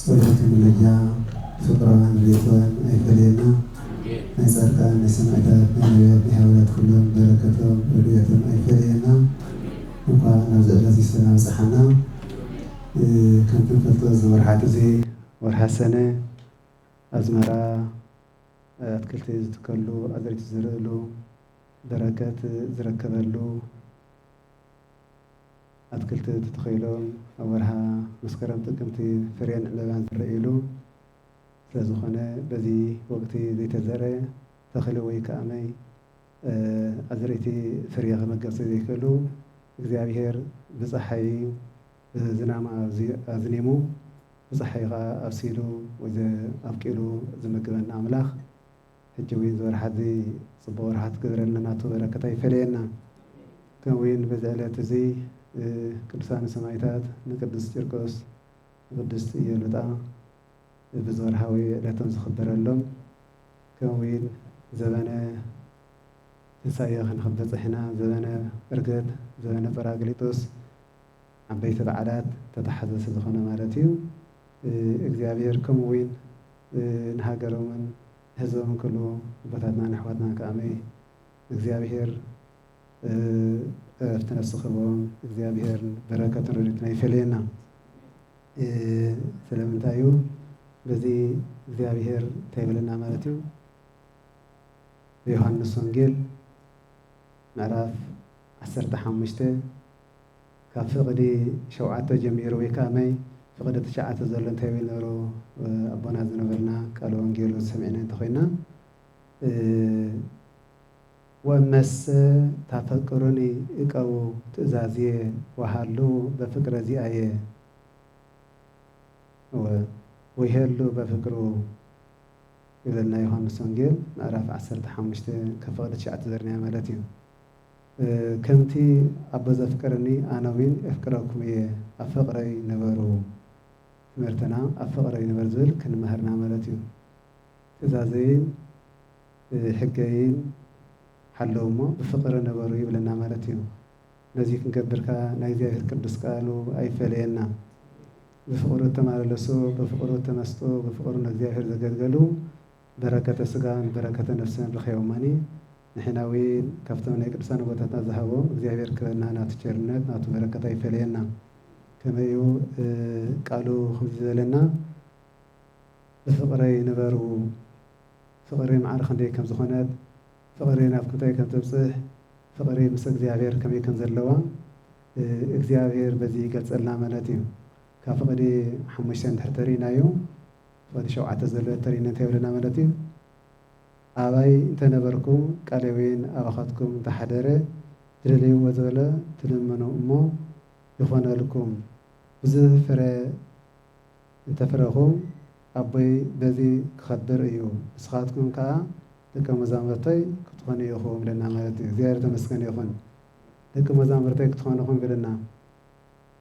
ጸሎት ምልጃ ፍቅረን ርዴቶን ኣይፈለየና ናይ ጻድቃን ናይ ሰማእታት ናይ ነብያት ናይ ሃዋርያት ኩሎም በረከቶም ረድኤቶም ኣይፈለየና እንኳዕ ናብዚ ዕለት እዚ ሰላም ኣብጽሓና ከምቲ ንፈልጦ እዚ ወርሓት እዚ ወርሓት ሰነ ኣዝመራ ኣትክልቲ ዝትከሉ ኣዝርእቲ ዝዝርእሉ በረከት ዝርከበሉ ኣትክልቲ ተተኺሎም ኣብ ወርሃ መስከረም ጥቅምቲ ፍሬን ዕምበባን ዝረእዩሉ ስለዝኾነ በዚ ወቅቲ ዘይተዘርእ ተኽሊ ወይ ከኣምይ ኣዝርእቲ ፍርየ ከመገብ ስለዘይክእሉ እግዚኣብሔር ብፀሓይ ብዝናም ኣዝኒሙ ብፀሓይ ከኣ ኣብሲሉ ወይ ኣብቂሉ ዝምግበና ኣምላኽ ሕጂ ዊን ዝወርሓት እዚ ጽቡቅ ወርሓት ክግበረልና ናቱ በረከት ኣይፈለየና ከም ዊን በዚ ዕለት እዚ ቅዱሳን ሰማኢታት ንቅዱስ ጭርቆስ ንቅድስት ኢዮሉጣ በዚ ወርሓዊ ዕለቶም ዝክበረሎም ከም ዊን ዘበነ ትንሳኤ ክንክብ በጽሕና ዘበነ ዕርገት ዘበነ ጰራቅሊጦስ ዓበይቲ በዓላት ተታሓዘሲ ዝኮነ ማለት እዩ። እግዚኣብሔር ከምኡ ዊን ንሃገሮምን ንህዝቦምን ክብሉ ኣቦታትናን ኣሕዋትናን ክኣ እግዚኣብሔር ዕረፍቲ ነፍሲ ክህቦም እግዚኣብሔር በረከቱን ረድኤቱን ኣይፈለየና ስለምንታይ እዩ በዚ እግዚኣብሔር እንታይ ይብለና ማለት እዩ ብዮሃንስ ወንጌል ምዕራፍ ዓሰርተ ሓሙሽተ ካብ ፍቕዲ ሸውዓተ ጀሚሩ ወይ ከኣ መይ ፍቕዲ ትሽዓተ ዘሎ እንታይ ይብል ነበሩ ኣቦና ዝነበርና ቃለ ወንጌል ውን ሰሚዕና እንተኾይና ወእመሰ ታፈቅሩኒ እቀቡ ትእዛዝየ ወሃልዉ በፍቅረ ዚኣየ እወ ወይሀሉ በፍቅሩ ይብለና ዮሃንስ ወንጌል ምዕራፍ ዓሰርተ ሓሙሽተ ካብ ፍቕዲ ትሽዓተ ዘርኒያ ማለት እዩ። ከምቲ ኣቦ ዘፍቅረኒ ኣነዊን ኤፍቅረኩም እየ ኣብ ፍቅረይ ንበሩ ትምህርትና ኣብ ፍቅረይ ንበር ዝብል ክንመሀር እና መለት እዩ ትእዛዘይን ሕገይን ሓልው እሞ ብፍቅሪ ንበሩ ይብለና መለት እዩ ነዙይ ክንገብር ከኣ ናይ እግዚኣብሔር ቅዱስ ቃሉ ኣይፈለየና ብፍቅሩ እተማለለሱ ብፍቅሩ እተመስጡ ብፍቅሩ ንእግዚኣብሔር ዘገልገሉ በረከተ ስጋን በረከተ ነፍስን ርኸዮማኒ ንሕና ዊን ካብቶም ናይ ቅዱሳን ኣቦታትና ዝሃቦም እግዚኣብሔር ክበና ናቱ ቸርነት ናቱ በረከት ኣይፈለየና ከመይ እዩ ቃሉ ከምዚ ዝበለና ብፍቅረይ ንበሩ ፍቅሪ ማዕረ ክንደይ ከም ዝኮነት ፍቅሪ ናብ ክንታይ ከም ተብጽሕ ፍቅሪ ምስ እግዚኣብሔር ከመይ ከም ዘለዋ እግዚኣብሔር በዚ ይገልጸልና ማለት እዩ ካብ ፍቅዲ ሓሙሽተ እንድሕር ተሪኢናዮ ክፈሊ ሸውዓተ ዘሎ ተሪነት የብልና ማለት እዩ ኣባይ እንተ ነበርኩ ቃሌዌን ኣባኻትኩም እንተ ሓደረ ትደልይዎ ዝበለ ትልምኑ እሞ ይኾነልኩም ብዙህ ፍረ እንተ ፍረኹም ኣቦይ በዚ ክኸብር እዩ ንስኻትኩም ከኣ ደቀ መዛምርተይ ክትኾኑ ኢኹም ኢለና ማለት እዩ እግዚኣብሔር ተመስገን ይኹን ደቂ መዛምርተይ ክትኾኑ ኢኹም ኢልና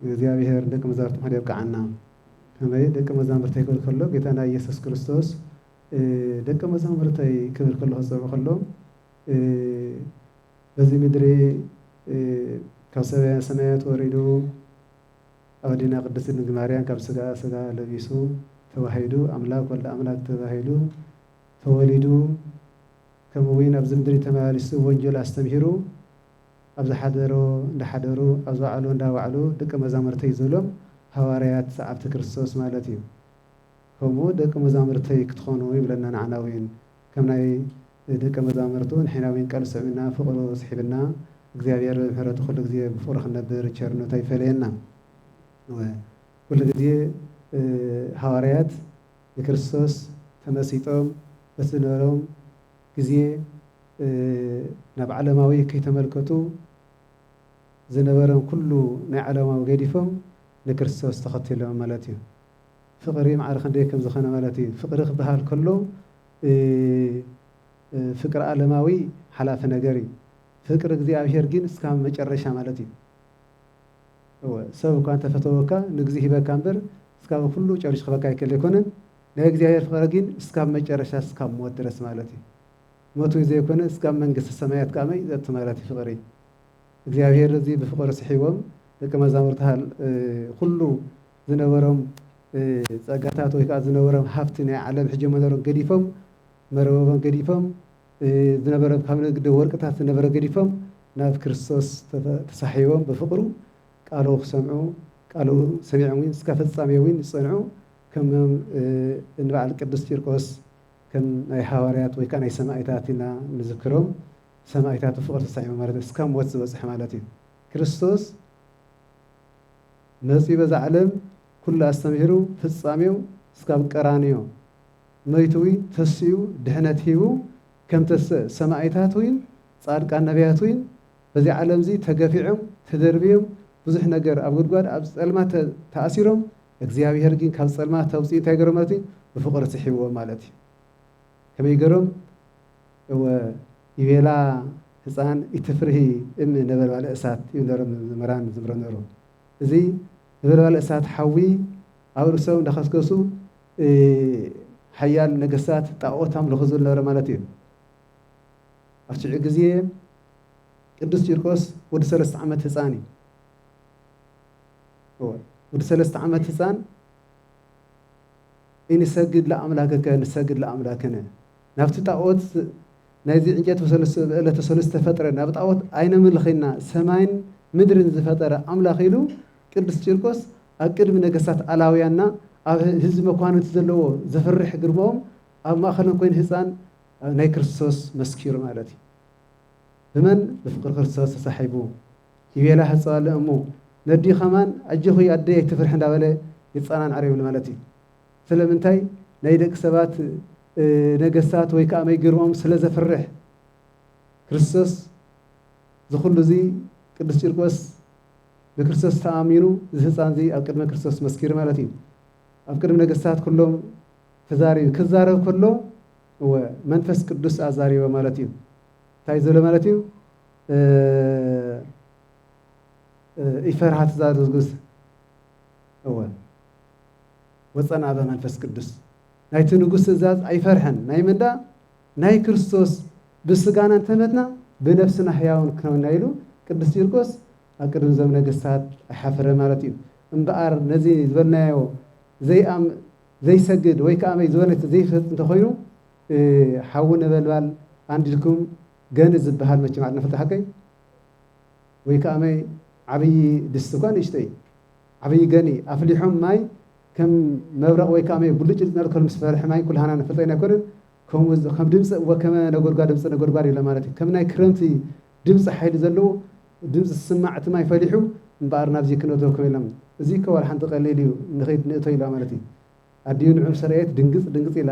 እግዚኣብሔር ንደቂ መዛርብቲ ክንኮን የብቅዓና ከመይ ደቂ መዛምርተይ ክብል ከሎ ጌታና ኢየሱስ ክርስቶስ ደቂ መዛምርተይ ክብል ከሎ ክጸውዕ ከሎ በዚ ምድሪ ካብ ሰማያ ሰማያት ወሪዱ ኣብ ኣዴና ቅድስት ድንግል ማርያም ካብ ስጋኣ ስጋ ለቢሱ ተዋሂዱ ኣምላክ ወልደ ኣምላክ ተባሂሉ ተወሊዱ ከምኡ እውን ኣብዚ ምድሪ ተመላሊሱ ወንጀል ኣስተምሂሩ ኣብ ዝሓደሮ እንዳሓደሩ ኣብ ዝወዓሎ እንዳወዓሉ ደቀ መዛሙርተይ ዝበሎም ሃዋርያት ሰዓብቲ ክርስቶስ ማለት እዩ። ከምኡ ደቀ መዛሙርተይ ክትኾኑ ይብለና ንዓና እውን ከም ናይ ደቀ መዛሙርቱ ንሕና እውን ቃሉ ስዒብና ፍቕሩ ስሒብና እግዚኣብሔር ብምሕረቱ ኩሉ ግዜ ብፍቕሩ ክንነብር ብቸርነቱ ኣይፈለየና። ኩሉ ግዜ ሃዋርያት ንክርስቶስ ተመሲጦም በቲ ዝነበሮም ግዜ ናብ ዓለማዊ ከይተመልከቱ ዝነበረም ኩሉ ናይ ዓለማዊ ገዲፎም ንክርስቶስ ተኸቲሎም ማለት እዩ። ፍቕሪ ማዕረ ክንደይ ከም ዝኸነ ማለት እዩ። ፍቕሪ ክበሃል ከሎ ፍቅር ዓለማዊ ሓላፊ ነገር እዩ። ፍቅር እግዚኣብሔር ግን እስካብ መጨረሻ ማለት እዩ። እወ ሰብ እኳ እንተፈተወካ ንግዜ ሂበካ እምበር እስካብ ኩሉ ጨሪሹ ክህበካ ይክእል ኣይኮነን። ናይ እግዚኣብሔር ፍቅረ ጊን እስካብ መጨረሻ እስካብ ሞት ድረስ ማለት እዩ ሞት ወይ ዘይኮነ እስካብ መንግስተ ሰማያት ከኣ መይ ዘቲ ማለት እዩ ፍቅሪ እግዚኣብሔር እዚ ብፍቅሪ ስሒቦም ደቂ መዛሙርት ሃል ኩሉ ዝነበሮም ጸጋታት ወይ ከኣ ዝነበሮም ሃብቲ ናይ ዓለም ሕጂ መነሮም ገዲፎም መረበቦም ገዲፎም ዝነበረ ካብ ንግዲ ወርቅታት ዝነበረ ገዲፎም ናብ ክርስቶስ ተሳሒቦም ብፍቅሩ ቃሉ ክሰምዑ ቃሉ ሰሚዖም እስከ ፍጻሜ እውን ዝጸንዑ ከም እንበዓል ቅዱስ ቂርቆስ ከም ናይ ሃዋርያት ወይ ከኣ ናይ ሰማኢታት ኢና ንዝክሮም ሰማኢታት ብፍቅሪ ተሳዒሞም ማለት እስካብ ሞት ዝበጽሑ ማለት እዩ ክርስቶስ መጺኡ በዛ ዓለም ኩሉ ኣስተምሂሩ ፍጻሜው እስካብ ቀራንዮ መይቱ እውይ ተሲኡ ድሕነት ሂቡ ከም ተሰ ሰማኢታት እውይን ጻድቃን ነብያት እውይን በዚ ዓለም እዚ ተገፊዖም ተደርብዮም ብዙሕ ነገር ኣብ ጉድጓድ ኣብ ጸልማት ተኣሲሮም እግዚኣብሔር ግን ካብ ጸልማት ኣውጺኡ እንታይ ገሮም ማለት እዩ ብፍቅሪ ስሒብዎም ማለት እዩ ከመይ ገሮም እወ ይቤላ ህፃን ኢትፍርሂ እም ነበልባለ እሳት እዩ ነሮም መምህራን ዝብሎ ነሩ እዚ ነበልባለ እሳት ሓዊ ኣብ ርእሶም እንዳኸስከሱ ሓያል ነገስታት ጣዖት ኣምልኹ ዝብል ነበረ ማለት እዩ ኣብ ሽዑ ግዜ ቅዱስ ቂርቆስ ወዲ ሰለስተ ዓመት ህፃን እዩ እወ ወዲ ሰለስተ ዓመት ህፃን ኢንሰግድ ለኣምላክከ ንሰግድ ለኣምላክነ ናብቲ ጣዖት ናይዚ ዕንጨይቲ ዕለተ ሰሉስ ዝተፈጥረ ናብ ጣዖት ኣይነምልኺና ሰማይን ምድርን ዝፈጠረ ኣምላኽ ኢሉ ቅዱስ ቂርቆስ ኣብ ቅድሚ ነገስታት ኣላውያንና ኣብ ህዝቢ መኳንንቲ ዘለዎ ዘፍርሕ ግርማኦም ኣብ ማእኸሎም ኮይኑ ህፃን ናይ ክርስቶስ መስኪሩ ማለት እዩ ብመን ብፍቅሪ ክርስቶስ ተሳሒቡ ይቤላ ሃጸዋለ እሙ ነዲኡ ከማን ኣጆኺ ኣደይ ኣይትፍርሒ እንዳበለ ይጻናንዓ ኔሩ ማለት እዩ ስለምንታይ ናይ ደቂ ሰባት ነገስታት ወይ ከኣ መይግርኦም ስለ ዘፍርሕ ክርስቶስ ዝኹሉ እዚ ቅዱስ ቂርቆስ ብክርስቶስ ተኣሚኑ እዚ ህፃን እዚ ኣብ ቅድሚ ክርስቶስ መስኪሩ ማለት እዩ ኣብ ቅድሚ ነገስታት ኩሎም ተዛሪቡ ክዛረብ ከሎ እወ መንፈስ ቅዱስ ኣዛሪቦ ማለት እዩ እንታይ ዝብለ ማለት እዩ ኢፈርሃ ትዛዝግስ እወ ወፀን ኣበ መንፈስ ቅዱስ ናይቲ ንጉስ ትእዛዝ ኣይፈርሐን ናይ ምንዳ ናይ ክርስቶስ ብስጋና እንተመትና ብነፍስና ህያውን ክነውና ኢሉ ቅዱስ ቂርቆስ ኣብ ቅድሚ ዞም ነገስታት ኣይሓፈረ ማለት እዩ እምበኣር ነዚ ዝበልናዮ ዘይኣም ዘይሰግድ ወይ ከዓ ዝበለ ዘይፈጥ እንተኮይኑ ሓዊ ነበልባል ኣንዲድኩም ገንት ዝብሃል መቸም ኣድንኽልቲ ሓቀይ ወይ ከኣመይ ዓብዪ ድስቲ እኳ ንእሽተይ ዓብዪ ገኒ ኣፍሊሖም ማይ ከም መብረቕ ወይ ከኣመይ ብሉጭ ልጭ ከልምስ ፈርሒ ማይ ኩልሃና ንፈልጠ ኢና ኣይኮነን ከምኡ ከም ድምፂ ወከመ ነጎድጓድ ድምፂ ነጎድጓድ ኢለ ማለት እዩ ከም ናይ ክረምቲ ድምፂ ሓይሊ ዘለዎ ድምፂ ዝስማዕ እቲ ማይ ፈሊሑ እምበኣር ናብዚ ክነእቶ ከም ኢሎም እዚ እኮ ዋላ ሓንቲ ቀሊል እዩ ንኸይድ ንእቶ ኢላ ማለት እዩ ኣዲኡ ንዑ ምስ ረኣየት ድንግፅ ድንግፅ ኢላ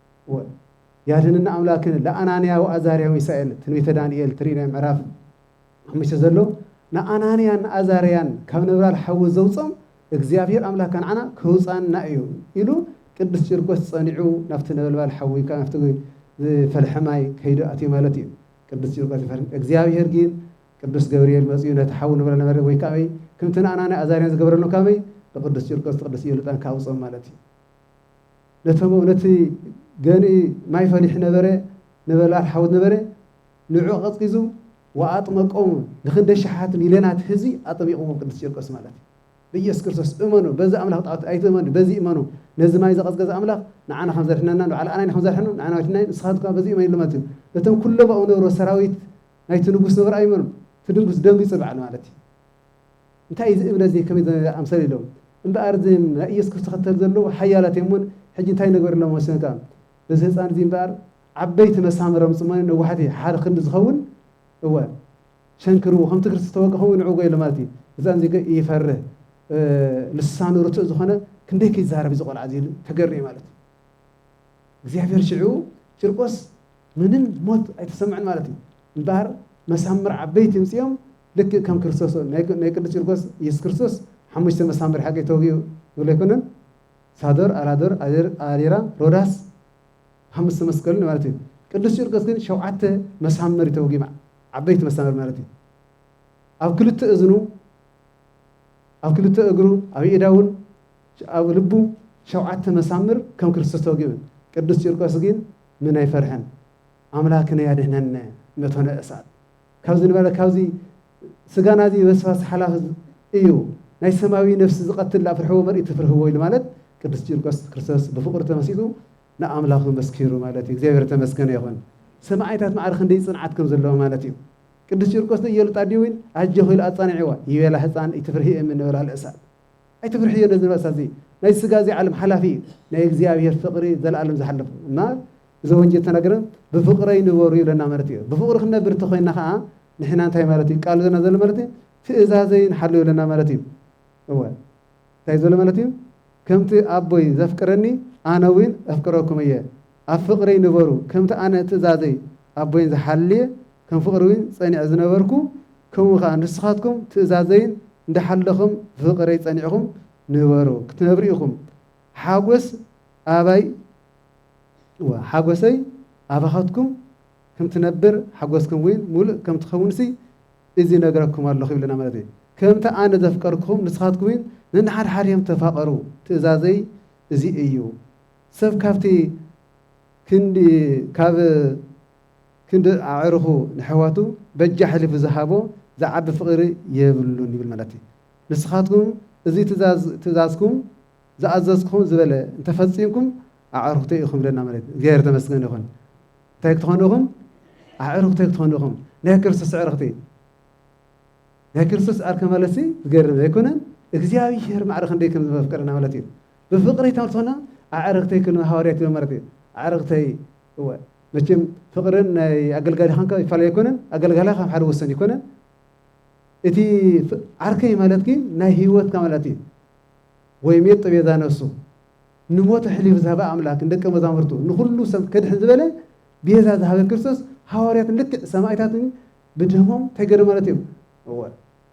ወል ያድኅንነ አምላክነ ለአናንያ ወአዛርያ ወሚሳኤል ትንቢተ ዳንኤል ትርኢ ናይ ምዕራፍ ሓሙሽተ ዘሎ ንኣናንያን ንኣዛርያን ካብ ነበልባል ሓዊ ዘውፅኦም እግዚኣብሔር ኣምላክ ከንዓና ከውፃና እዩ ኢሉ ቅዱስ ቂርቆስ ፀኒዑ ናብቲ ነበልባል ሓዊ ካብ ናብቲ ዝፈልሐ ማይ ከይዱ ኣትዩ ማለት እዩ ቅዱስ ቂርቆስ ይፈርም እግዚኣብሔር ግን ቅዱስ ገብርኤል መፅኡ ነቲ ሓዊ ንብረ ነበረ ወይ ከመይ ከምቲ ንኣናንያ ኣዛርያን ዝገበረሎም ከመይ ንቅዱስ ቂርቆስ ቅዱስ ኢዮልጣን ከኣውፅኦም ማለት እዩ ነቶም ነቲ ገንኢ ማይ ፈሊሕ ነበረ ነበልባል ሓዊ ነበረ ንዑ ኣቐጽቂዙ ወኣጥመቆሙ ንክንደይ ሸሓት ሚልዮናት ህዝቢ ኣጠሚቕዎም ቅዱስ ቂርቆስ ማለት እዩ ብኢየሱስ ክርስቶስ እመኑ በዚ ኣምላኽ ጣዖት ኣይትእመኑ በዚ እመኑ ነዚ ማይ ዘቐዝቀዘ ኣምላኽ ንዓና ከም ዘድሕነና ንበዓል ኣናይ ከም ዘድሕኑ ንዓና ወድናይ ንስኻት እኳ በዚ እመን ኢሎማት እዩ ነቶም ኩሎም ኣብኡ ነብሮ ሰራዊት ናይቲ ንጉስ ነብሮ ኣይመኑ እቲ ድንጉስ ደንጊጹ በዓል ማለት እዩ እንታይ እዩ እዚ እምነት እዚ ከመይ ዝኣምሰለ ኢሎም እምበኣር እዞም ናይ ኢየሱስ ክርስቶስ ተኸተልቲ ዘለዉ ሓያላት እዮም እሞ ሕጂ እንታይ ንግበረሎም ወሰኑ ከኣ በዚ ህጻን እዚ እምበኣር ዓበይቲ መሳምር ኣምጽኡ እሞ ነዋሕቲ ሓደ ክንዲ ዝኸውን እወ ሸንክርዎ ከምቲ ክርስቶስ ዝተወግኣ ከምኡ ንዕውጎ ኢሎም ማለት እዩ ህጻን እዚ ግን ይፈርህ ልሳኑ ርቱዕ ዝኾነ ክንደይ ከይዛረብ እዚ ቆልዓ እዚ ኢሉ ተገርየ ማለት እዩ እግዚኣብሔር ሽዑ ጭርቆስ ምንም ሞት ኣይተሰምዐን ማለት እዩ እምበኣር መሳምር ዓበይቲ እምጽኦም ልክእ ከም ክርስቶስ ናይ ቅዱስ ቂርቆስ ኢየሱስ ክርስቶስ ሓሙሽተ መሳምር ሓቂ ተወጊኡ ንብሎ ኣይኮነን ሳዶር ኣላዶር ኣሪራ ሮዳስ ሓሙሽተ መስቀልን ማለት እዩ ቅዱስ ቂርቆስ ግን ሸውዓተ መሳምር ተወጊኡ ዓበይቲ መሳምር ማለት እዩ ኣብ ክልተ እዝኑ ኣብ ክልተ እግሩ ኣብ ኢዳውን ኣብ ልቡ ሸውዓተ መሳምር ከም ክርስቶስ ተወጊኡን ቅዱስ ቂርቆስ ግን ምን ኣይፈርሐን ኣምላክነ ያድህነነ መቶነ እሳት ካብዚ ንበለ ካብዚ ስጋና እዚ በስባስ ሓላፍ እዩ ናይ ሰማያዊ ነፍሲ ዝቐትል ዳኣ ፍርሕዎ መርኢት ትፍርህዎ ኢሉ ማለት ቅዱስ ቂርቆስ ክርስቶስ ብፍቕሩ ተመሲጡ ንኣምላኹ መስኪሩ ማለት እዩ እግዚኣብሔር ተመስገነ ይኹን ሰማዕታት ማዕረ ክንደይ ጽንዓት ከም ዘለዎ ማለት እዩ ቅዱስ ቂርቆስ ዶ እየሉጣ ድዩ ኢል ኣጆኺ ኢሉ ኣጻኒዕዋ ይቤላ ህፃን ኢትፍርሂ እም ንበላ ልእሳት ኣይትፍርሕዮ ነዚ ንበሳ እዚ ናይ ስጋ እዚ ዓለም ሓላፊ እዩ ናይ እግዚኣብሔር ፍቅሪ ዘላለም ዝሓለፉ እና እዚ ወንጀል ተናገረ ብፍቅረይ ንበሩ ይብለና ማለት እዩ ብፍቅሪ ክንነብር ተኮይና ከዓ ንሕና እንታይ ማለት እዩ ቃሉ ዘና ዘሎ ማለት እዩ ትእዛዘይ ንሓሉ ይብለና ማለት እዩ እወ እንታይ ዘሎ ማለት እዩ ከምቲ ኣቦይ ዘፍቅረኒ ኣነ እውን ኣፍቅረኩም እየ ኣብ ፍቅሪ ንበሩ ከምቲ ኣነ ትእዛዘይ ኣቦይን ዝሓልየ ከም ፍቅሪ ዊን ጸኒዐ ዝነበርኩ ከምኡ ከኣ ንስካትኩም ትእዛዘይን እንዳሓለኹም ብፍቅረይ ጸኒዕኹም ንበሩ ክትነብሩ ኢኹም ሓጎስ ኣባይ እወ ሓጎሰይ ኣባካትኩም ከም ትነብር ሓጎስኩም ዊን ሙሉእ ከም ትከውንሲ እዚ ይነግረኩም ኣለኹ ይብለና ማለት እዩ ከምቲ ኣነ ዘፍቀርኩኹም ንስካትኩም ዊን ነንሓድሓድኩም ተፋቀሩ ትእዛዘይ እዚ እዩ። ሰብ ካብቲ ክንዲ ካብ ክንዲ ኣዕሩኹ ነሕዋቱ በጃ ኣሕሊፉ ዝሃቦ ዝዓቢ ፍቕሪ የብሉን ይብል ማለት እዩ። ንስኻትኩም እዚ ትእዛዝ ትእዛዝኩም ዝኣዘዝኩኹም ዝበለ እንተ ፈጺምኩም ኣዕሩኽተይ ኢኹም ይብለና ማለት እዩ። እግዚኣብሔር ተመስገን ይኹን። እንታይ ክትኾኑ ኢኹም? ኣዕሩኽተይ ክትኾኑ ኢኹም። ናይ ክርስቶስ ኣዕርኽቲ ናይ ክርስቶስ ዓርከ ማለትሲ ዝገርም ዘይኮነን እግዚኣብሔር ማዕረ ክንደይ ከም ዘፍቅረና ማለት እዩ። ብፍቅሪ ተምሶና ኣዕርክተይ ክን ሃዋርያ ትብል ማለት እዩ ኣዕርክተይ እወ መቸም ፍቅርን ናይ ኣገልጋሊ ካንካ ይፋለ ኣይኮነን ኣገልጋላ ካብ ሓደ ወሰን ይኮነን እቲ ዓርከይ ማለት ግን ናይ ህይወትካ ማለት እዩ ወይ ሜት ጥቤዛ ነሱ ንሞት ሕሊፍ ዝሃበ ኣምላክ ንደቀ መዛሙርቱ ንኩሉ ሰብ ከድሕን ዝበለ ቤዛ ዝሃበ ክርስቶስ ሃዋርያት ልክዕ ሰማይታትን ብደሞም እንታይ ገይሮም ማለት እዮም እወ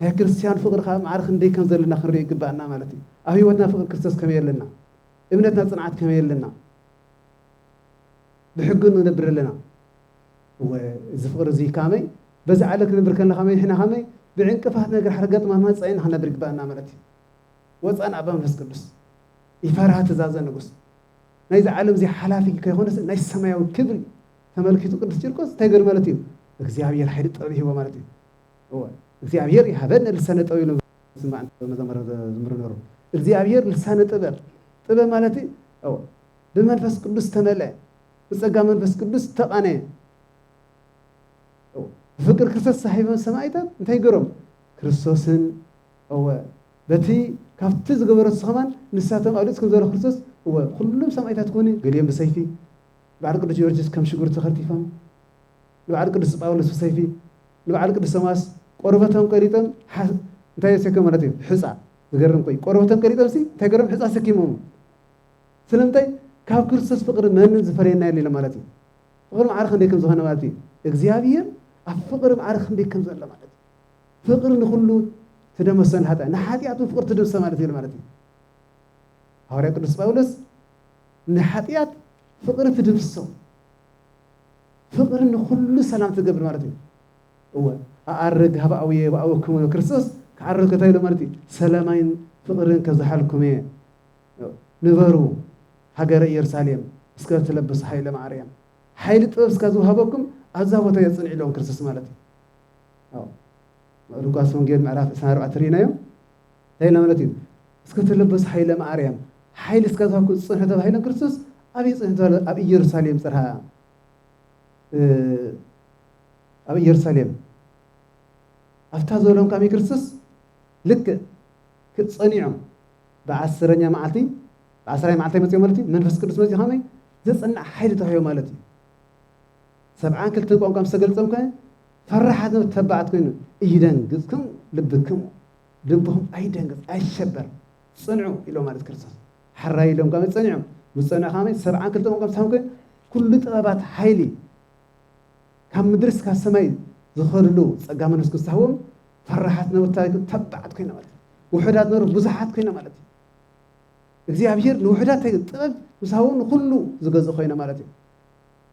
ናይ ክርስትያን ፍቕሪ ከኣ ማዕረ ክንደይ ከም ዘለና ክንርኢ ይግብኣና ማለት እዩ። ኣብ ህይወትና ፍቕሪ ክርስቶስ ከመይ ኣለና? እምነትና ጽንዓት ከመይ ኣለና? ብሕጊ ንነብር ኣለና። እወ እዚ ፍቕሪ እዚ ካመይ በዚ ዓለ ክንብር ከለና ከመይ ንሕና ከመይ ብዕንቅፋት ነገር ሓደ ገጥማትና ጸይና ክንነብር ይግብኣና ማለት እዩ። ወጻን ኣባ መንፈስ ቅዱስ ይፈርሃ ትእዛዘ ንጉስ ናይዚ ዓለም እዚ ሓላፊ ከይኮነስ ናይ ሰማያዊ ክብሪ ተመልኪቱ ቅዱስ ቂርቆስ እንታይ ገር ማለት እዩ እግዚኣብሔር ሓይሊ ጥበብ ይህቦ ማለት እዩ። እወ እግዚኣብሔር ይሃበነ ልሳነ ጥበብ ኢሎም ዝስማዕ እንተሎ መዘመር ዘዝምሩ ነሩ እግዚኣብሔር ልሳነ ጥበብ ጥበብ ማለት እወ ብመንፈስ ቅዱስ ተመልአ ብጸጋ መንፈስ ቅዱስ ተቃነየ ብፍቅር ክርስቶስ ሳሒቦም ሰማይታት እንታይ ገሮም ክርስቶስን እወ በቲ ካብቲ ዝገበሮ ስኸማን ንሳቶም ኣብ ልፅ ከም ዘሎ ክርስቶስ እወ ኩሎም ሰማይታት ኮኑ ገሊኦም ብሰይፊ ንበዓል ቅዱስ ጊዮርጊስ ከም ሽጉርቲ ከርቲፎም ንበዓል ቅዱስ ጳውሎስ ብሰይፊ ንበዓል ቅዱስ ቶማስ ቆርበቶም ቀሪጦም ሓ እንታይ ኣሰከም ማለት እዩ ሕጻ ዝገርም ኮይ ቆርበቶም ቀሪጦም ሲ እንታይ ገሮም ሕጻ ኣሰኪሞም ስለምንታይ ካብ ክርስቶስ ፍቅሪ መንን ዝፈረየና የለ ማለት እዩ ፍቅሪ ማዕረ ክንደይ ከም ዝኾነ ማለት እዩ እግዚኣብሔር ኣብ ፍቅሪ ማዕረ ክንደይ ከም ዘሎ ማለት እዩ ፍቅሪ ንኩሉ ትደመሰን ሓጢያ ንሓጢኣት ፍቅሪ ትደምሰ ማለት እዩ ማለት እዩ ሃዋርያ ቅዱስ ጳውሎስ ንሓጢኣት ፍቅሪ ትድምስሶ ፍቕሪ ንኹሉ ሰላም ትገብር ማለት እዩ። እወ ኣኣርግ ሃበ ኣውየ የብኣወክሙ ኢሎ ክርስቶስ ክዓርግ ከታይ ኢሎ ማለት እዩ ሰለማይን ፍቕርን ከብዝሓልኩም እየ ንበሩ ሃገረ ኢየሩሳሌም እስከ ትለብሱ ሓይለ ማርያም ሓይሊ ጥበብ እስካ ዝውሃበኩም ኣብዛ ቦታ እየ ፅንዒ ኢሎም ክርስቶስ ማለት እዩ ሉቃስ ወንጌል ምዕራፍ 24 ርኢናዮም እንታይ ኢልና ማለት እዩ እስከ ተለበሱ ሓይለ ማርያም ሓይሊ እስከ ዝሃብኩ ዝፅንሑ ተባሂሎም ክርስቶስ ኣበይ ፅንሑ ተባሂሎ ኣብ ኢየሩሳሌም ፅርሃ ኣብ ኢየሩሳሌም ኣብታ ዝበሎም ካብ ክርስቶስ ልክዕ ክፀኒዖም ብዓስረኛ መዓልቲ ብዓስራይ መዓልቲ መፅኦ ማለት እዩ መንፈስ ቅዱስ መፅኡ ከመይ ዘፅናዕ ሓይሊ ተዋሂቦ ማለት እዩ ሰብዓን ክልተን ቋንቋ ምስ ተገልፀም ከ ፈራሓት ን ተባዓት ኮይኑ እይደንግጽኩም ልብክሙ ልብኹም ኣይደንግጽ ኣይሸበር ጽንዑ ኢሎም ማለት ክርስቶስ ሓራይ ኢሎም ከመይ ጸኒዖም ምስ ጸንዑ ከመይ ሰብዓን ክልተ መዓልቲ ሳም ኮይኑ ኩሉ ጥበባት ሓይሊ ካብ ምድሪ እስካብ ሰማይ ዝኸድሉ ጸጋ መንፈስ ቅዱስ ሃቦም ፈራሓት ነበሩ ታሪክም ተባዓት ኮይና ማለት ውሑዳት ነበሩ ብዙሓት ኮይና ማለት እዩ እግዚኣብሔር ንውሑዳት ጥበብ ምስ ሃቦም ንኹሉ ዝገዝእ ኮይነ ማለት እዩ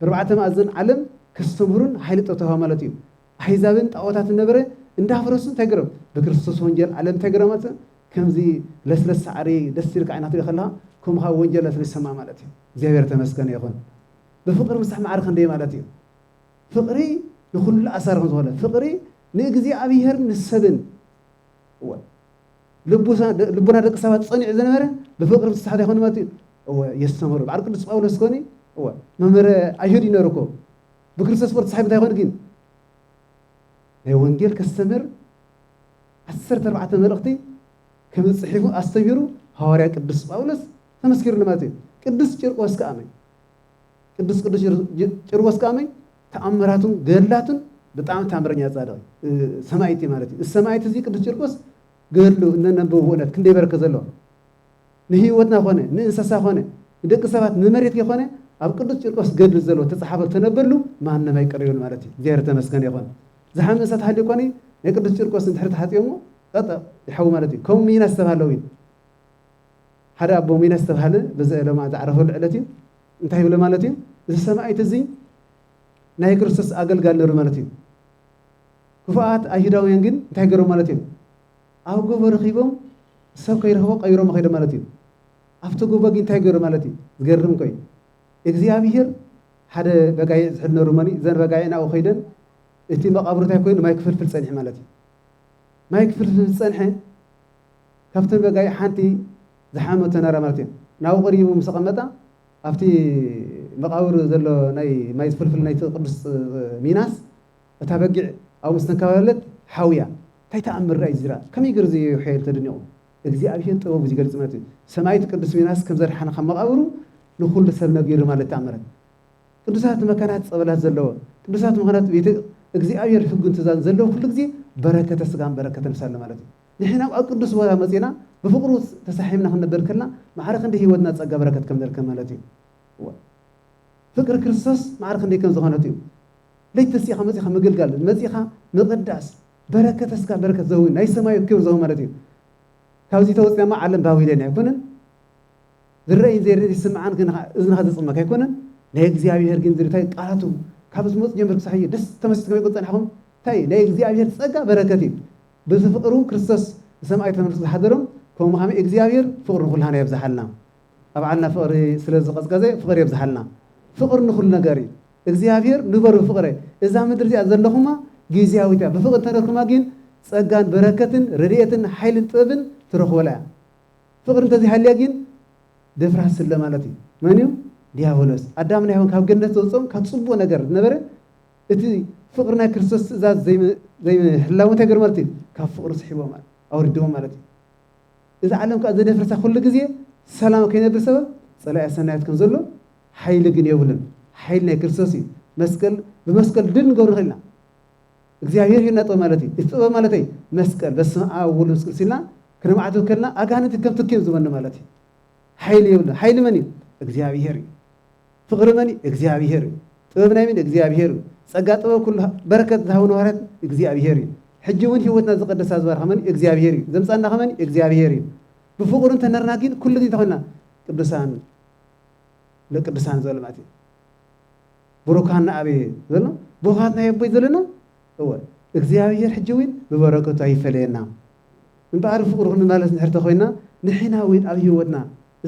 ኣርባዕተ ማእዘን ዓለም ከስተምህሩን ኃይሊ ጠተውሃ ማለት እዩ። ኣሕዛብን ጣዖታትን ነበረ እንዳፍረሱን ተግረም ብክርስቶስ ወንጀል ዓለም ተግረመት ከምዚ ለስለስ ሳዕሪ ደስ ኢልካ ዓይና ትሪኦ ከለኻ ከምኻ ወንጀል ለስለስ ይሰማዕ ማለት እዩ። እግዚኣብሔር ተመስገነ ይኹን ብፍቕሪ ምስራሕ ማዕረ ክንደይ ማለት እዩ። ፍቕሪ ንኹሉ ኣሳሪ ከም ዝኾነ ፍቕሪ ንእግዚኣብሔርን ንሰብን እወ ልቡና ደቂ ሰባት ጸኒዑ ዝነበረ ብፍቕሪ ምስራሕ ዘይኮነ ማለት እዩ። እወ የስተምህሩ በዓል ቅዱስ ጳውሎስ ኮኒ እወ መምህረ ኣይሁድ እዩ ነሩ እኮ ብክርስቶስ ጶር ተሳሒቡ እንታይ ኮን ግን ናይ ወንጌል ከስተምህር ዓሰርተ ኣርባዕተ መልእኽቲ ከም ዝፅሒፉ ኣስተሚሩ ሃዋርያ ቅዱስ ጳውሎስ ተመስኪሩሉ ማለት እዩ ቅዱስ ጭርቆስ ከዓ መይ ቅዱስ ቅዱስ ጭርቆስ ከዓ መይ ተኣምራቱን ገድላቱን ብጣዕሚ ተኣምረኛ ፃድቕ ሰማይቲ ማለት እዩ ሰማይቲ እዚ ቅዱስ ጭርቆስ ገድሉ እነነብብ እውነት ክንደይ በረከ ዘለዎ ንህይወትና ኮነ ንእንሰሳ ኮነ ንደቂ ሰባት ንመሬት ከይኮነ ኣብ ቅዱስ ቂርቆስ ገድሊ ዘሎ ተጻሓፈ ተነበሉ ማንም ኣይቅርዮን ማለት እዩ እግዚኣብሔር ተመስገን ይኾን ዝሓመ እሳት ሃልዩ ኮኒ ናይ ቅዱስ ቂርቆስ እንድሕር ተሓጽዮሞ ጠጠ ይሓው ማለት እዩ ከም ሚና ዝተባሃለው እዩ ሓደ ኣቦ ሚና ዝተባሃለ በዚ ዕለማ ዝዓረፈሉ ዕለት እዩ እንታይ ይብለ ማለት እዩ እዚ ሰማዒት እዚ ናይ ክርስቶስ ኣገልጋል ነሩ ማለት እዩ ክፉኣት ኣይሁዳውያን ግን እንታይ ገሮም ማለት እዮም ኣብ ጎቦ ረኺቦም ሰብ ከይረኽቦ ቀቢሮሞ ከይዶም ማለት እዩ ኣብቲ ጎቦ ግን እንታይ ገሩ ማለት እዩ ዝገርም እኮ እዩ እግዚኣብሄር ሓደ በጋይዕ ዝሕድ ነሩ እሞኒ እዘን በጋይዕ ናብኡ ከይደን እቲ መቓብሩ እንታይ ኮይኑ ማይ ክፍልፍል ጸኒሑ ማለት እዩ ማይ ክፍልፍል ዝጸንሐ ካብተን በጋይዕ ሓንቲ ዝሓመቶ ነራ ማለት እዩ ናብኡ ቀሪቡ ምስ ተቐመጣ ኣብቲ መቓብር ዘሎ ናይ ማይ ዝፍልፍል ናይቲ ቅዱስ ሚናስ እታ በጊዕ ኣብኡ ምስ ተንከባለለት ሓውያ። ታይ ተኣምር ዳኣ እዩ እዚዳኣ ከመይ ገሩ ዘየዮ ሐየሉ ተደኒቁ እግዚኣብሔር ጥበቡ ዚገልፅ ማለት እዩ ሰማኢት ቅዱስ ሚናስ ከምዘድሓኖ ካብ መቃብሩ ንኩሉ ሰብ ነጊሩ ማለት ተኣምራት ቅዱሳት መካናት ፀበላት ዘለዎ ቅዱሳት መካናት ቤተ እግዚኣብሔር ሕጉን ትእዛዝን ዘለዎ ኩሉ ግዜ በረከተ ስጋን በረከተ ነፍስ ኣሎ ማለት እዩ ንሕና ኣብ ቅዱስ ቦታ መፂና ብፍቅሩ ተሳሒምና ክንነበር ከልና ማዕረ ክንዲ ህይወትና ፀጋ በረከት ከም ንርከብ ማለት እዩ ፍቅሪ ክርስቶስ ማዕረ ክንደይ ከም ዝኾነት እዩ ለይቲ ተሲእኻ መጺኻ ምግልጋል መጺኻ ምቅዳስ በረከተ ስጋ በረከተ ዘህዊ ናይ ሰማዩ ክብር ዘህዊ ማለት እዩ ካብዚ ተወጽና እሞ ዓለም ባቢሎን ኣይኮነን ዝረእይን ዘይርእ ዝስምዓን ግን እዝንኻ ዘጽመካ ኣይኮነን ናይ እግዚኣብሔር ግን ዝርታይ ቃላቱ ካብ ዝመጽ ጀምር ክሳዕ እዩ ደስ ተመሲጥ ከመይ ቁን ጸናሕኩም እንታይ ናይ እግዚኣብሔር ጸጋ በረከት እዩ ብዚ ፍቅሩ ክርስቶስ ንሰማይ ተመልሱ ዝሓደሮም ከምኡ ከመይ እግዚኣብሔር ፍቅሩ ንኩላህና የብዝሓልና ኣብ ዓድና ፍቅሪ ስለ ዝቀዝቀዘ ፍቅሪ የብዝሓልና ፍቅሪ ንኩሉ ነገር እዩ እግዚኣብሔር ንበሩ ብፍቅረ እዛ ምድሪ እዚኣ ዘለኩማ ጊዝያዊት እያ ብፍቅሪ እንተነርኩማ ጊን ጸጋን በረከትን ረድኤትን ሓይልን ጥበብን ትረክቡላ እያ ፍቅሪ እንተዘይሃልያ ጊን ደፍራስ ስለ ማለት እዩ መን እዩ ዲያብሎስ ኣዳምና ሔዋን ካብ ገነት ዘውጽኦም ካብ ጽቡቅ ነገር ዝነበረ እቲ ፍቅሪ ናይ ክርስቶስ ትእዛዝ ዘይምህላው እንታይ ገርም ማለት እዩ ካብ ፍቅሪ ስሒቦም ኣውሪድዎም ማለት እዩ እዛ ዓለም ከኣ ዘደፍርሳ ኩሉ ግዜ ሰላም ከይነብር ሰበብ ጸላኢ ኣሰናዮት ከም ዘሎ ሓይሊ ግን የብሉን ሓይሊ ናይ ክርስቶስ እዩ መስቀል ብመስቀል ድል ንገብር ንኽእል ኢና እግዚኣብሔር ሂብና ጥበብ ማለት እዩ እቲ ጥበብ ማለተይ መስቀል በስመ ኣብ ወልድ መንፈስ ቅዱስ ኢልና ክነማዕትብ ከልና ኣጋንንቲ ከም ትኪ እዮም ዝበኑ ማለት እዩ ሓይሊ የብሉ ሓይሊ መን እዩ እግዚኣብሔር እዩ ፍቅሪ መን እዩ እግዚኣብሄር እዩ ጥበብ ናይ መን እግዚኣብሄር እዩ ጸጋ ጥበብ ኩሉ በረከት ዝሃቡ ንዋርያት እግዚኣብሄር እዩ ሕጂ ውን ሂወትና ዝቀደሳ ዝባርካ መን እዩ እግዚኣብሄር እዩ ዘምጻና ከመን እዩ እግዚኣብሄር እዩ ብፍቅሩ እንተነርና ግን ኩሉ ግዜ ተኮና ቅዱሳን ለቅዱሳን ዘሎ ማለት እዩ ብሩካን ንኣብየ ዘሎ ብሩካት ናይ ኣቦይ ዘለና እወ እግዚኣብሔር ሕጂ እውን ብበረከቱ ኣይፈለየና እምበኣር ፍቅሩ ክንመላለስ ንድሕር ተኮይና ንሕና እውን ኣብ ሂወትና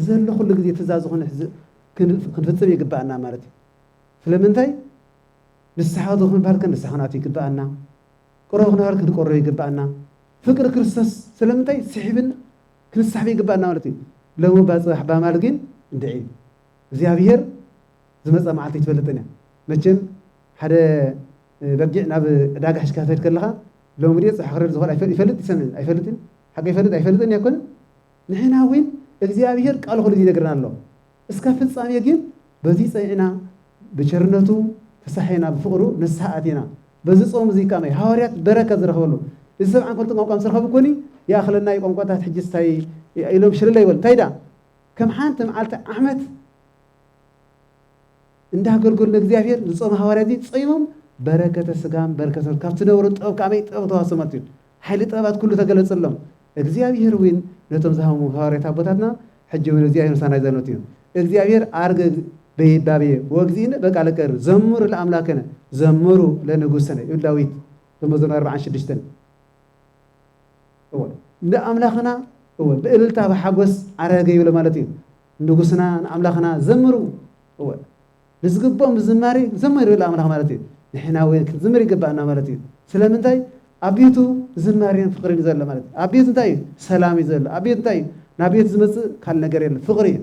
ዘሎ ኩሉ ግዜ ትእዛዝ ዝኮነ ክንፍጽም ይግብኣና ማለት እዩ። ስለምንታይ ንስሓ ዶ ክንብሃል ክንስሓ ክንኣቱ ይግብኣና፣ ቅሮ ክንብሃል ክንቆሮ ይግብኣና፣ ፍቅሪ ክርስቶስ ስለምንታይ ስሒብን ክንሳሕብ ይግብኣና ማለት እዩ። ሎሚ እባ ጽባሕ ባማል ግን እንድዒ እግዚኣብሔር ዝመጽኣ መዓልቲ ኣይትፈልጥን እያ። መቸም ሓደ በጊዕ ናብ ዕዳጋ ሒዝካ ክትከድ ከለኻ ሎሚ ድየ ጽባሕ ክረድ ዝኽእል ይፈልጥ ይሰምዕን ኣይፈልጥን ሓቂ ይፈልጥ ኣይፈልጥን እያ ኣይኮነን ንሕና እውን እግዚኣብሔር ቃሉ ኹሉ ጊዜ ይነግረና ኣሎ እስካብ ፍጻሜ ግን በዙይ ጸኒዕና ብቸርነቱ ተሳሒና ብፍቕሩ ንስሓ ኣቲና በዚ ጾም እዙይ ከኣ ሃዋርያት በረከት ዝረኽበሉ እዚ ሰብዓን ክልተ ቋንቋ ምስ ረኸቡ ኮኒ ይኣኽለና እዩ ቋንቋታት ሕጂ ስታይ ኢሎም ሽለለ ይበሉ እንታይ ደኣ ከም ሓንቲ መዓልቲ ዓመት እንዳ ኣገልገሉ ንእግዚኣብሔር ዝጾም ሃዋርያ እዚ ጾይሞም በረከተ ስጋም በረከተ ነፍስ ካብቲ ነበሩ ጥበብ ከመይ ጥበብ ተዋሶም ማለት እዩ ሓይሊ ጥበባት ኩሉ ተገለጸሎም እግዚኣብሔር እውን ነቶም ዝሃሙ ሃዋርያት ኣቦታትና ሕጂ እውን እግዚኣብሔር ምሳና ይዘኖት እዩ እግዚኣብሔር ኣርገ በይባቤ ወግዚእነ በቃለ ቀር ዘምሩ ለኣምላከነ ዘምሩ ለንጉሰነ ይብል ዳዊት በመዝሙር ኣርባዓን ሽዱሽተን ንኣምላኽና ብእልልታ ብሓጎስ ዓረገ ይብሎ ማለት እዩ ንንጉስና ንኣምላኽና ዘምሩ እወ ንዝግብኦም ዝማሬ ዘምሩ ይብል ኣምላኽ ማለት እዩ ንሕና እውን ክንዝምር ይግባኣና ማለት እዩ ስለምንታይ ኣብ ቤቱ ዝማሬን ፍቅሪን ዘሎ ማለት እዩ ኣብ ቤቱ እንታይ እዩ ሰላም እዩ ዘሎ ኣብ ቤቱ እንታይ እዩ ናብ ቤቱ ዝመፅእ ካልእ ነገር የለ ፍቅሪ እዩ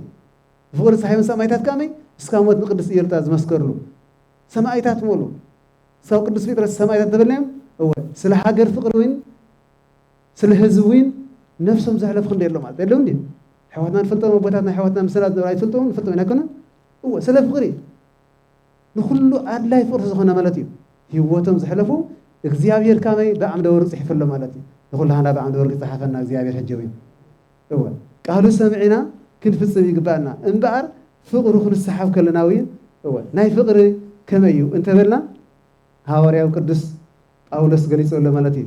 ፍቅሪ ፀሓይ ሰማይታት ከመይ እስካ ሞት ንቅድስቲ እየሉታ ዝመስከርሉ ሰማይታት ሙሉ ሰው ቅዱስ ጴጥሮስ ሰማይታት ተበልናዮም እወ ስለ ሃገር ፍቅሪ እውን ስለ ህዝቢ ዊን ነፍሶም ዘሕለፉ ክንደይ ኣሎ ማለት የለዉን ድዩ? ኣሕዋትና ንፈልጦም ኣቦታትና ኣሕዋትና ምስላ ዝነበሩ ኣይትፈልጥዎምን ንፈልጦም ኢና ኣይኮነን? እወ ስለ ፍቕሪ ንኹሉ ኣድላይ ፍቕሪ ዝኾነ ማለት እዩ ህይወቶም ዘሕለፉ እግዚኣብሔር ካበይ ብዓምደ ወርቅ ጽሒፉ ኣሎ ማለት እዩ። ንኹላህና ብዓምደ ወርቅ ይጽሓፈና እግዚኣብሔር ሕጂ ዊን እወ ቃሉ ሰምዒና ክንፍጽም ይግባኣና እምበኣር ፍቕሩ ክንሰሓብ ከለና ዊን እወ ናይ ፍቕሪ ከመይ እዩ እንተበልና ሃዋርያዊ ቅዱስ ጳውሎስ ገሊጹ ኣሎ ማለት እዩ።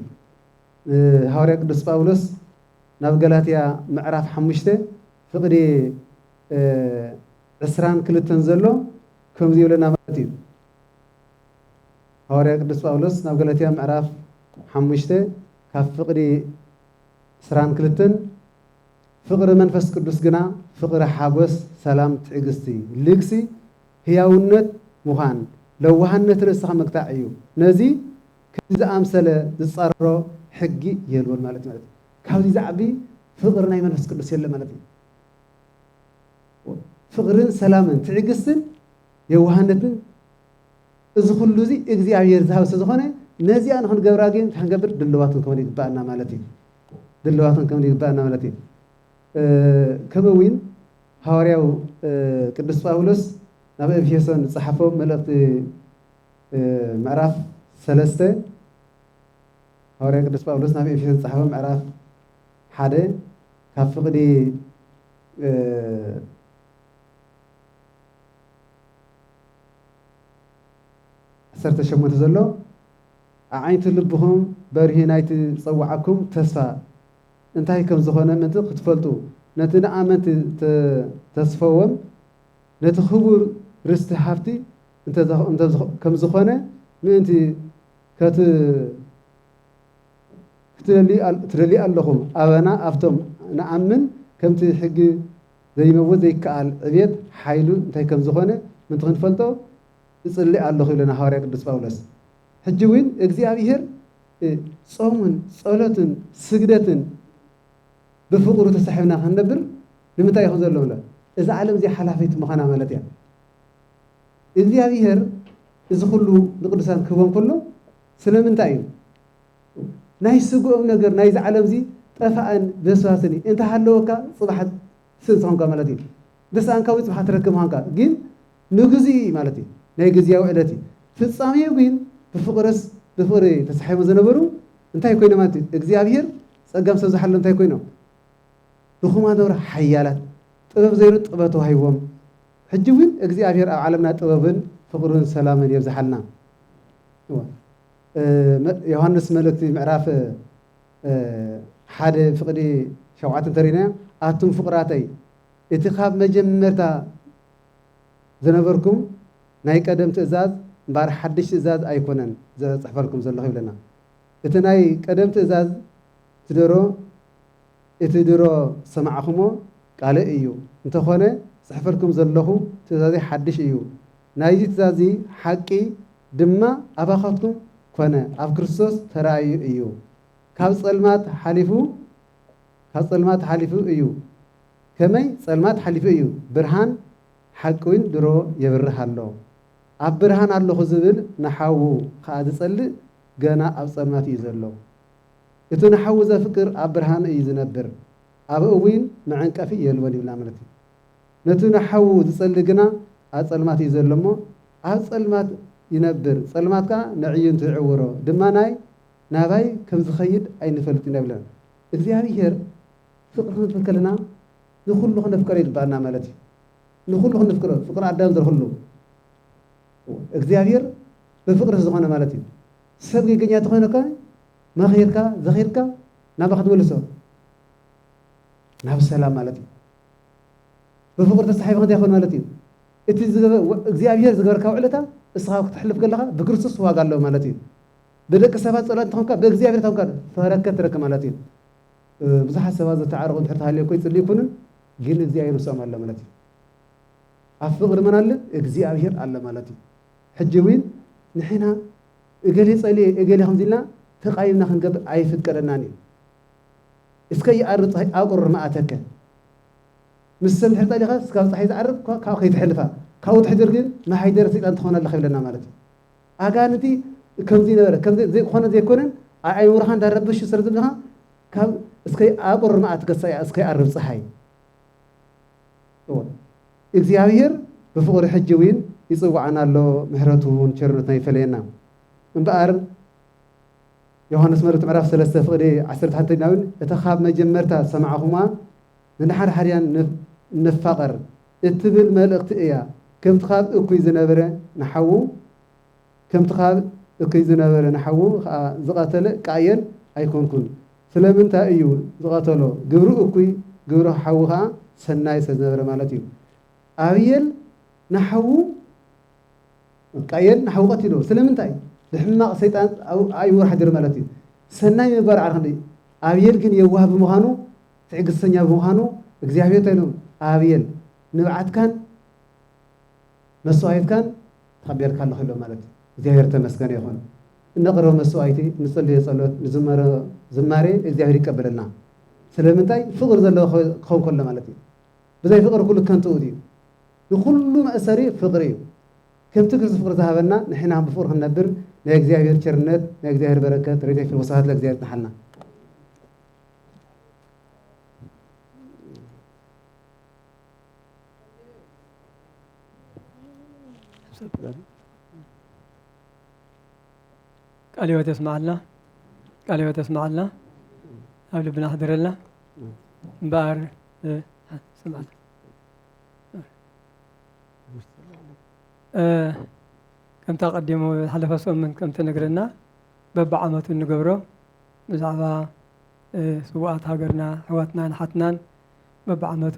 ሃዋርያ ቅዱስ ጳውሎስ ናብ ገላትያ ምዕራፍ ሓሙሽተ ፍቕዲ ዕስራን ክልተን ዘሎ ከምዚ ይብለና ማለት እዩ። ሃዋርያ ቅዱስ ጳውሎስ ናብ ገላትያ ምዕራፍ ሓሙሽተ ካብ ፍቕዲ ዕስራን ክልተን ፍቕሪ መንፈስ ቅዱስ ግና ፍቕሪ ሓጎስ፣ ሰላም፣ ትዕግስቲ፣ ልግሲ፣ ህያውነት፣ ምዃን፣ ለዋሃነት፣ ርእስኻ ምግታዕ እዩ። ነዚ ከምዚ ዝኣምሰለ ዝጻረሮ ሕጊ የልቦን ማለት ማለት እዩ። ካብዚ ዝዓቢ ፍቕሪ ናይ መንፈስ ቅዱስ የለን ማለት እዩ። ፍቕርን ሰላምን ትዕግስትን የዋህነትን እዚ ኩሉ እዚ እግዚኣብሔር ዝሃብ ስለ ዝኾነ ነዚኣ ንክንገብራ ግን እንታይ ክንገብር ድልዋት ክንከውን ይግባኣና ማለት እዩ። ድልዋት ክንከውን ይግባኣና ማለት እዩ። ከምኡ እውን ሃዋርያው ቅዱስ ጳውሎስ ናብ ኤፌሶን ዝጸሓፎ መልእኽቲ ምዕራፍ ሰለስተ ሃዋርያ ቅዱስ ጳውሎስ ናብ ኤፌሶን ዝጸሓፈ ምዕራፍ ሓደ ካብ ፍቕዲ ዓሰርተ ሸሞንተ ዘሎ ኣዓይንቲ ልብኹም በርሂ ናይቲ ዝጸውዓኩም ተስፋ እንታይ ከም ዝኾነ ምእንቲ ክትፈልጡ ነቲ ንኣመንቲ ተስፈዎም ነቲ ክቡር ርስቲ ሃብቲ ከምዝኾነ ምእንቲ ከትደልዩ ኣለኹም፣ ኣበና ኣብቶም ንኣምን ከምቲ ሕጊ ዘይመውት ዘይከኣል ዕብየት ሓይሉ እንታይ ከምዝኾነ ምእንቲ ክንፈልጦ እጽሊ ኣለኹ ይብለና ሃዋርያ ቅዱስ ጳውሎስ። ሕጂ እውን እግዚኣብሔር ጾምን ጸሎትን ስግደትን ብፍቕሩ ተሳሒብና ክንነብር ንምንታይ ይኹን ዘሎ እዛ ዓለም እዚኣ ሓላፊት ምዃና ማለት እያ። እግዚኣብሄር እዚ ኩሉ ንቅዱሳን ክህቦም ከሎ ስለምንታይ እዩ? ናይ ስግኦም ነገር ናይዚ ዓለም እዚ ጠፋእን በስባስን እዩ። እንተሃለወካ ጽባሕ ስእንቲ ኾንካ ማለት እዩ። እንተሰኣንካ እውን ጽባሕ ትረክብ ምዃንካ ግን ንግዚኡ እዩ ማለት እዩ። ናይ ግዚያዊ ዕለት እዩ። ፍጻሜኡ ግን ብፍቕርስ ብፍቕሪ ተሳሒቦም ዝነበሩ እንታይ ኮይኖም ማለት እዩ? እግዚኣብሄር ጸጋም ሰብ ዝሓሎም እንታይ ኮይኖም? ድኹማት ነበሩ ሓያላት፣ ጥበብ ዘይሩ ጥበብ ተዋሂብዎም። ሕጂ ውን እግዚኣብሔር ኣብ ዓለምና ጥበብን ፍቅርን ሰላምን የብዝሓልና እወ ዮሃንስ መልእክቲ ምዕራፍ ሓደ ፍቅዲ ሸውዓተ እንተሪእናዮ ኣቱም ፍቁራተይ እቲ ካብ መጀመርታ ዝነበርኩም ናይ ቀደም ትእዛዝ እምበኣር ሓድሽ ትእዛዝ ኣይኮነን ዘጽሕፈልኩም ዘለኹ ይብለና እቲ ናይ ቀደም ትእዛዝ ትደሮ እቲ ድሮ ዝሰማዕኹሞ ቃለይ እዩ፣ እንተኾነ ዝጽሕፈልኩም ዘለኹ ትእዛዘይ ሓድሽ እዩ፣ ናይዚ ትእዛዝዚ ሓቂ ድማ ኣባኻትኩም ኮነ ኣብ ክርስቶስ ተራእዩ እዩ፣ ካብ ጸልማት ሓሊፉ ካብ ጸልማት ሓሊፉ እዩ፣ ከመይ ጸልማት ሓሊፉ እዩ፣ ብርሃን ሓቂ ውን ድሮ የብርህ ኣሎ፣ ኣብ ብርሃን ኣለኹ ዝብል ንሓዉ ኸኣ ዝጸልእ ገና ኣብ ጸልማት እዩ ዘሎ። እቱ ንሓዉ ዘፍቅር ኣብ ብርሃን እዩ ዝነብር ኣብ እዊን መዐንቀፊ የልቦን ይብልና ማለት እዩ ነቱ ንሓዉ ዝጸሊ ግና ኣብ ጸልማት እዩ ዘሎ እሞ ኣብ ጸልማት ይነብር ጸልማት ከኣ ነዕይንቱ ይዕውሮ ድማ ናይ ናባይ ከም ዝኸይድ ኣይንፈልጥ ኢና ይብለን እግዚኣብሔር ፍቅሪ ክንፍር ከለና ንኩሉ ክነፍቀሮ ይግባኣና ማለት እዩ ንኩሉ ክንፍቅሮ ፍቅሪ ኣዳም ዝረክሉ እግዚኣብሔር ብፍቅሪ ዝኾነ ማለት እዩ ሰብ ጌገኛ ተኾይኑ ከኣ መኺርካ ዘኺርካ ናብኻ ትምልሶ ናብ ሰላም ማለት እዩ ብፍቅሪ ተሳሒብካ እንታይ ኮን ማለት እዩ እቲ እግዚኣብሔር ዝገበርካ ውዕለታ እስኻ ክትሕልፍ ከለኻ ብክርስቶስ ዋጋ ኣሎ ማለት እዩ ብደቂ ሰባት ጸላእቲ ተኾንካ ብእግዚኣብሔር ተኾንካ ፈረከት ትረክብ ማለት እዩ ብዙሓት ሰባት ዘተዓረቑ እንድሕር ተሃልየኮ ይጽልዩ ይኩንን ግን እግዚኣብሔር ምስኦም ኣሎ ማለት እዩ ኣብ ፍቅሪ መን ኣለ እግዚኣብሔር ኣለ ማለት እዩ ሕጂ ውን ንሕና እገሌ ጸልየ እገሌ ከምዚ ኢልና ተቃይምና ክንገብር ኣይፍቀደናን እዩ እስከ ይኣሪ ጸሃይ ኣብ ቁሩር ምኣተከ ምስ ሰብ እንድሕር ጸሊኻ እስካብ ጸሓይ ዝዓርብ ካብኡ ከይተሕልፋ ካብኡ ትሕድር ግን መሃይደረ ሰይጣን ትኾን ኣለኻ ይብለና ማለት እዩ ኣጋንንቲ ከምዚ ነበረ ከምዚ ዘይኮነ ዘይኮነን ኣእምሮኻ እንዳረበሹ ስለ ዘለኻ ካብ እስከ ኣብ ቁሩር ምኣትከ እስከ ይኣርብ ጸሃይ እወ እግዚኣብሄር ብፍቕሩ ሕጂ ውን ይጽውዓና ኣሎ ምሕረቱ ን ቸርነቱን ኣይፈለየና እምበኣር ዮሓንስ መልእክቱ ምዕራፍ ሰለስተ ፍቕዲ ዓሰርተ ሓንቲ ዲና ውን እታ ካብ መጀመርታ ዝሰማዕኹምዋ ንንሓድሓድያ ንፋቐር እትብል መልእኽቲ እያ ከምቲ ካብ እኩይ ዝነብረ ንሓዉ ከምቲ ካብ እኩይ ዝነበረ ንሓዉ ከኣ ዝቐተለ ቃየል ኣይኮንኩን። ስለምንታይ እዩ ዝቐተሎ? ግብሩ እኩይ ግብሩ ሓዉ ከኣ ሰናይ ስለ ዝነበረ ማለት እዩ። ኣብየል ንሓዉ ቃየል ንሓዉ ቀቲልዎ ስለምንታይ? ብሕማቕ ሰይጣን ኣእይዎ ሓዲሩ ማለት እዩ። ሰናይ ምግባር ዓርኪ እንድዩ። ኣብየል ግን የዋህ ብምዃኑ ትዕግስተኛ ብምዃኑ እግዚኣብሔር እንታይ ኢሉ ኣብየል ንብዓትካን መሥዋዕትካን ተቐቤልካ ኣሎኻ ኢሎም ማለት እዩ። እግዚኣብሔር እተመስገነ ይኹን። እነቕርቦ መሥዋዕቲ፣ እንጽልዮ ጸሎት፣ ንዝመሮ ዝማሬ እግዚኣብሔር ይቀበለልና። ስለምንታይ? ፍቕሪ ዘለዎ ክኸውን ከሎ ማለት እዩ። ብዘይ ፍቕሪ ኩሉ ከንቱ ውእቱ እዩ። ንኹሉ መእሰሪ ፍቕሪ እዩ። ከምቲ ግዙፍ ፍቕሪ ዝሃበና ንሕና ውን ብፍቕሪ ክንነብር ናይ እግዚኣብሔር ቸርነት፣ ናይ እግዚኣብሔር በረከት፣ ረድኤት ይኹን። ወስብሐት ለእግዚኣብሔር ይጽንሓልና። ቃለ ሕይወት ያስማዓልና፣ ቃለ ሕይወት ያስማዓልና፣ ኣብ ልብና ሕድረልና እምበኣር ስምዓና ከምታ ቀዲሙ ሓለፈ ሰሙን ከምቲ ነግረና በብዓመቱ እንገብሮ ብዛዕባ ስዋኣት ሃገርና ኣሕዋትናን ሓትናን በብዓመቱ